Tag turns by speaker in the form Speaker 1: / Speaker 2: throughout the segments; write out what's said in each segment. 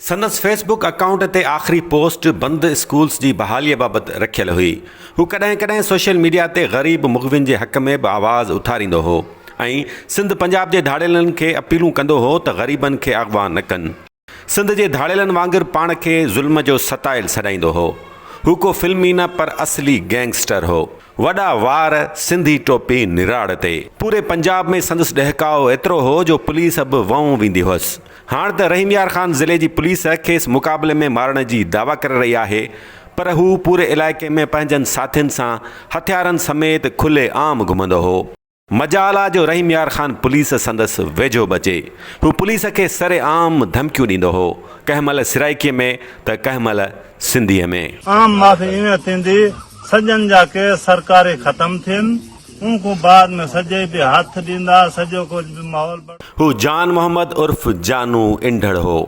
Speaker 1: سندس Facebook account تي آخري پوسٽ بند اسڪولز جي بحاليء بابت رکيل هئي. هو ڪڏهن ڪڏهن سوشل ميڊيا تي غريب مغوين جي حق ۾ به آواز اٿاريندو هو ۽ سنڌ پنجاب جي ڌاڙيلن کي اپيلون ڪندو هو ته غريبن کي اغوا نه ڪن. سنڌ جي ڌاڙيلن وانگر پاڻ کي ظلم جو ستايل سڏائيندو هو. هو ڪو فلمي نه پر اصلي گينگسٽر هو. وڏا وار، سنڌي ٽوپي نراڙ تي. پوري پنجاب ۾ سندس ڏهڪاء ايترو هو جو پوليس به ونئون ويندي هئس. هاڻ ته رحيم يار خان ضلعي جي پوليس کيس مقابلي ۾ مارڻ جي دعويٰ ڪري رهي آهي پر هو پوري علائقي ۾ پنهنجن ساٿين سان هٿيارن سميت کلي عام گهمندو هو. مجال آ جو رحيم يار خان پوليس سندس ويجهو به اچي. هو پوليس کي سري عام ڌمڪيون ڏيندو هو. ڪنهن مهل سرائيڪي ۾ ته ڪنهن مهل سنڌي ۾. عام معافي ايئن
Speaker 2: ٿيندي سڄن جا ڪيس سرڪاري ختم ٿين. ان کان بعد ۾ سجئي به هٿ ڏيندا، سڄو ڪجهه به ماحول بڻ. هو جان محمد
Speaker 1: عرف جانو انڍڙ هو.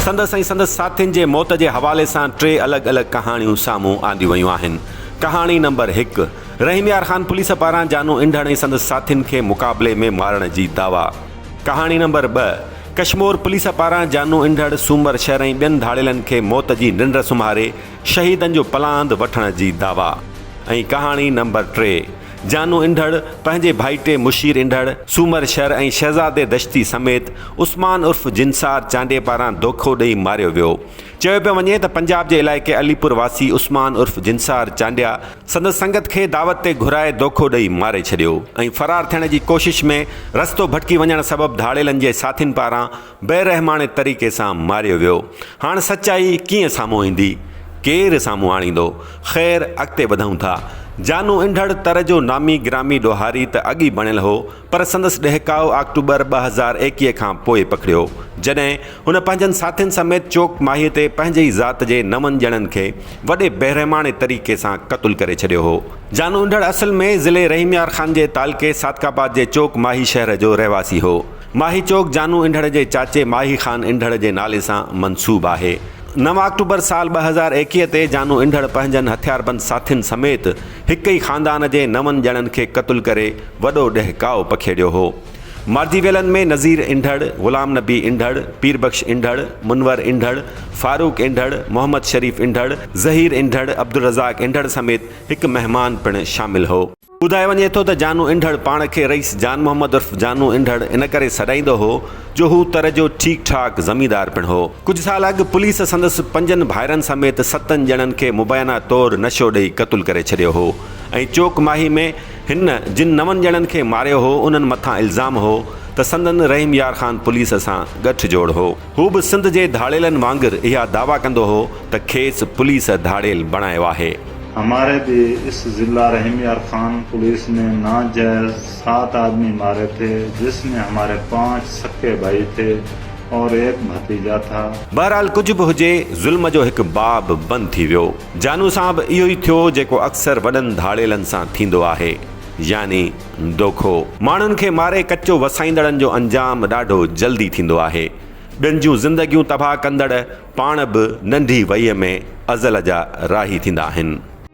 Speaker 1: سندس ۽ سندس ساٿين جي موت جي حوالي سان ٽي الڳ الڳ ڪهاڻيون سامهون آنديون ويون آهن. ڪهاڻي نمبر هڪ، رحيم يار خان پوليس پاران جانو انڍڙ ۽ سندس ساٿين کي مقابلي ۾ مارڻ جي دعويٰ. ڪهاڻي نمبر ٻه، ڪشمور پوليس پاران جانو انڍڙ سومر شھر ۽ ٻين ڌاڙيلن کي موت جي ننڊ سمھاري شھيدن جو پلاند وٺڻ جي دعويٰ ۽ ڪهاڻي نمبر ٽي جانو انڍڙ پنهنجي ڀائٽي مشير انڍڙ سومر شھر ۽ شھزادي دشتي سميت عثمان عرف جنسار چانڊيي پاران دوکو ڏئي ماريو ويو چيو پيو وڃي ته پنجاب جي علائقي علي پور واسي عثمان عرف جنسار چانڊيا سندس سنگت کي دعوت تي گهرائي دوکو ڏئي ماري ڇڏيو ۽ فرار ٿيڻ جي ڪوشش ۾ رستو ڀٽڪي وڃڻ سبب ڌاڙيلن جي ساٿين پاران بيرحماڻي طريقي سان ماريو ويو هاڻ سچائي ڪيئن سامهون ايندي ڪير سامهون آڻيندو خير اڳتي وڌون ٿا جانو انڍڙ تر جو نامي گرامي ڏوهاري ته اڳ ئي بڻيل هو پر سندس ڏهڪاء آڪٽوبر ٻه هزار ايڪيهه کان پوء پکڙيو، جڏهن هن پنهنجن ساٿين سميت چوڪ ماهيء تي پنهنجي ئي ذات جي نون ڄڻن کي وڏي بيرحماڻي طريقي سان قتل ڪري ڇڏيو هو. جانو انڍڙ اصل ۾ ضلعي رحيم يار خان جي تعلقي صادق آباد جي چوڪ ماهي شهر جو رهواسي هو. ماهي چوڪ جانو انڍڙ جي چاچي ماهي خان انڍڙ جي نالي سان منسوب آهي. نو آڪٽوبر سال ٻه هزار ايڪيهه تي جانو انڍڙ پنهنجن هٿياربند ساٿين سميت، هڪ ئي خاندان جي نون ڄڻن کي قتل ڪري وڏو ڏهڪاء پکيڙيو هو. مارجي ويلن ۾ نظير انڍڙ، غلام نبي انڍڙ، پير بخش انڍڙ، منور انڍڙ، فاروق انڍڙ، محمد شريف انڍڙ، ظهير انڍڙ، عبدالرزاق انڍڙ سميت هڪ مهمان پڻ شامل هو. ٻڌايو وڃي ٿو ته جانو انڍڙ پاڻ کي رئيس جان محمد عرف جانو انڍڙ ان ڪري سڏائيندو هو، جو هو تر جو ٺيڪ ٺاڪ زميندار پڻ هو. ڪجهه سال اڳ پوليس سندس پنجن ڀائرن سميت ستن ڄڻن کي مبينا طور نشو ڏئي قتل ڪري ڇڏيو هو ۽ چوڪ ماهي ۾ هن جن نون ڄڻن کي ماريو هو انهن مٿان الزام هو ته سندن رحيم يار خان پوليس سان ڳٺ جوڙ هو. هو به سنڌ جي ڌاڙيلن وانگر اها دعويٰ ڪندو هو ته کيس پوليس ڌاڙيل بڻايو آهي. هماري به
Speaker 2: اس ضلع رحيم يار خان پوليس ۾ ناجائز سات آدمي ماري ٿي جس ۾ هماري پانچ سڪي ڀائي ٿي اور ايڪ ڀتيجا ٿا. بهرحال ڪجهه به هجي
Speaker 1: ظلم جو هڪ باب بند ٿي ويو. جانو سان به اهو ئي ٿيو جيڪو اڪثر وڏن ڌاڙيلن سان ٿيندو آهي يعني دوکو. ماڻهن کي ماري ڪچو وسائيندڙن جو انجام ڏاڍو جلدي ٿيندو آهي. ٻين جون زندگيون تباهه ڪندڙ پاڻ به ننڍي وئي ۾ ازل جا راهي ٿيندا آهن.